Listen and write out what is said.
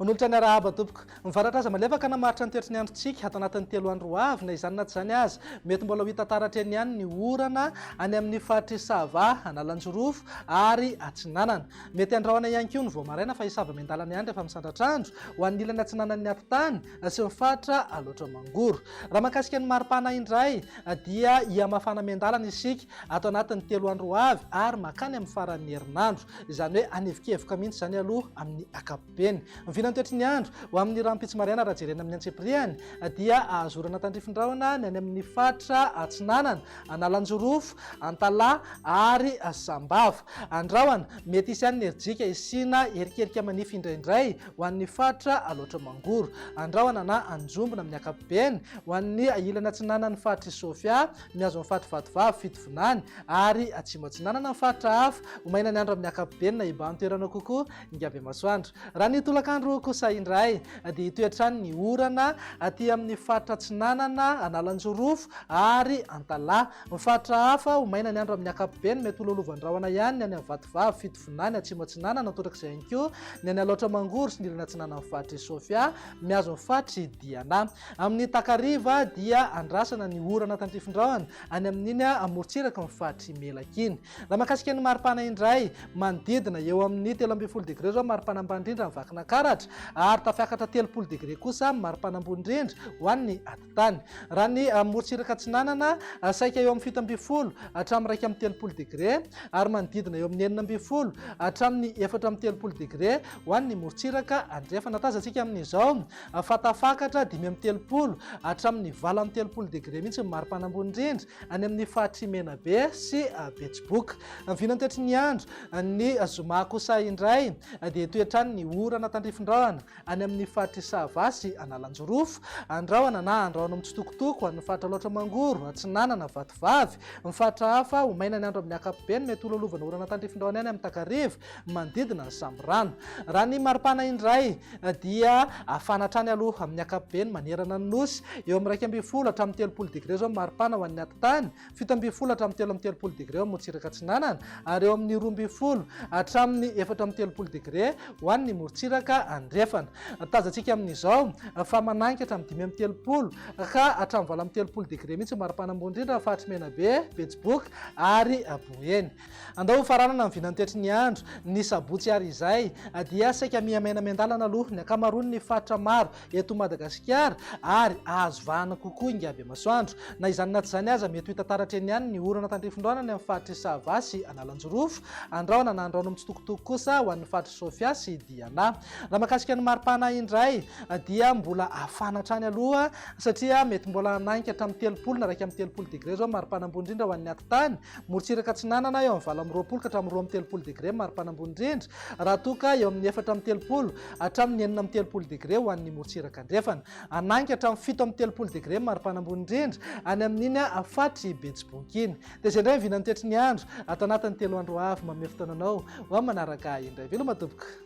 Manolotra ny arahaba tompoko. Mivaratra aza malefaka namaritra ny toetry ny androntsika ato anatin'ny telo andro ho avy na izany na tsy izany aza. Mety mbola ho hita taratra eny ihany ny orana any amin'ny faritry Sava, Analanjirofo ary Atsinanana. Mety handrahona ihany koa ny vao maraina fa hisava miandalana ihany rehefa misandratra andro ho an'ny ilany atsinanan'ny atitany. Aseho fatra aloatra mangoro. Raha mahakasika ny maripana indray dia hihamafana miandalana isika ato anatin'ny telo andro ho avy ary mankany amin'ny faran'ny herinandro. Izany hoe hanevikevoka mihitsy izany aloha amin'ny ankapobeny. Ny vinantoetry ny andro ho amin'ny rahampitso maraina raha jerena amin'ny antsipiriany dia ahazorana tandrifin-drahona ny any amin'ny faritra Atsinanana, Analanjorofo, Antalaha ary Sambava. Andrahona mety hisy ihany ny herijika hisiana erikerika manify indraindray ho an'ny faritra Alaotra Mangoro, Andrahona na Anjombona amin'ny ankapobeny, ho an'ny ilany atsinanan'ny faritr'i Sofia, mihazo ny faritr'i Vatovavy, Fitovinany, ary atsimo atsinanana ny faritra hafa, ho maina ny andro amin'ny ankapobeny na hibahan-toerana kokoa Ingabemasoandro. Raha ny tolakandro kosa indray dia hitohy hatrany ny orana aty amin'ny faritra atsinanana, Analanjirofo ary Antalaha. Ny faritra hafa, ho maina ny andro amin'ny ankapobeny, mety ho lolovan-drahona ihany ny any Amvatovavy, Fitovinany, Atsimo Atsinanana, torak'izay ihany koa ny any Alaotra Mangoro sy ny ilany atsinanan'ny faritr'i Sofia, mihazo ny faritr'i Diana. Amin'ny takariva dia andrasana ny orana tandrifindrahona any amin'iny amorontsiraky ny faritr'i Melaky iny. Raha mahakasika ny maripana indray, manodidina eo amin'ny telo ambin'ny folo degre izao ny maripana ambany indrindra any Vakinankaratra ary tafiakatra telopolo degre kosa ny maripana ambony indrindra ho an'ny Tany. Raha ny morontsiraka atsinanana, saika eo amin'ny fito ambin'ny folo hatramin'ny iraika amby telopolo degre, ary manodidina eo amin'ny enina ambin'ny folo hatramin'ny efatra amby telopolo degre ho an'ny morontsiraka andrefana. Tazantsika amin'izao fa tafakatra dimy amby telopolo hatramin'ny valo amby telopolo degre mihitsy ny mari-panambony indrindra any amin'ny faritry Menabe sy Betsiboka. Vinany toetry ny andro. Ny zoma kosa indray dia hitohy hatrany ny orana tandrifin-drahona any amin'ny faritry Sava sy Analanjirofo, andrahona na andrahona mitsitokotoko any amin'ny faritra Alaotra Mangoro, Atsinanana, Vatovavy, ny faritra hafa ho maina ny andro amin'ny ankapobeny, mety ho lolovan' orana tandrifindraony any amin'ny takariva manodidina ny Sambirano. Raha ny maripana indray dia hafana hatrany aloha amin'ny ankapobeny manerana ny Nosy, eo amin'ny iraika ambin'ny folo hatramin'ny telopolo degre izao ny maripana ho an'ny atitany, fito ambin'ny folo hatramin'ny telo amby telopolo degre eo Morontsiraka Atsinanana ary eo amin'ny roa ambin'ny folo hatramin'ny efatra amby telopolo degre ho an'ny Morontsiraka Andrefana. Tazantsika amin'izao fa manangy hatramin'ny dimy amby telopolo ka hatramin'ny valo amby telopolo degre mihitsy ny mari-panambony indrindra amin'ny faritry Menabe, Betsiboka ary Boeny. Andao hofaranana ny vinantetry ny andro, ny sabotsy ary izay dia saika miha-maina miandalana aloha ny ankamaroan'ny faritra maro eto Madagasikara ary ahazo vahana kokoa ingaby masoandro. Na izany na tsy izany aza mety ho hita taratra eny ihany ny orana tandrifin-drano any amin'ny faritr'i Sava sy Analanjirofo, Andrahona na Andrahona mitsitokotoko kosa ho an'ny faritr'i Sofia sy Diana. Raha mahakasika ny mari-pana indray dia mbola hafana hatrany aloha satria mety mbola hanainga hatramin'ny telopolo na iraika amby telopolo degré izao ny mari-pana ambony indrindra ho an'ny atitany Morontsiraka Atsinanana eo amin'ny valo amby roapolo ka hatramin'ny roa amby telopolo degre maripana ambony indrindra, raha toa ka eo amin'ny efatra amby telopolo hatramin'ny enina amby telopolo degre ho an'ny morontsiraka andrefana. Hanangy hatramin'ny fito amby telopolo degre maripana ambony indrindra any amin'iny faritry Betsiboka iny. Dia izay indray ny vinan'ny toetry ny andro ato anatin'ny telo andro avy. Manome fotoana anao ho amin'ny manaraka indray. Veloma tompoko.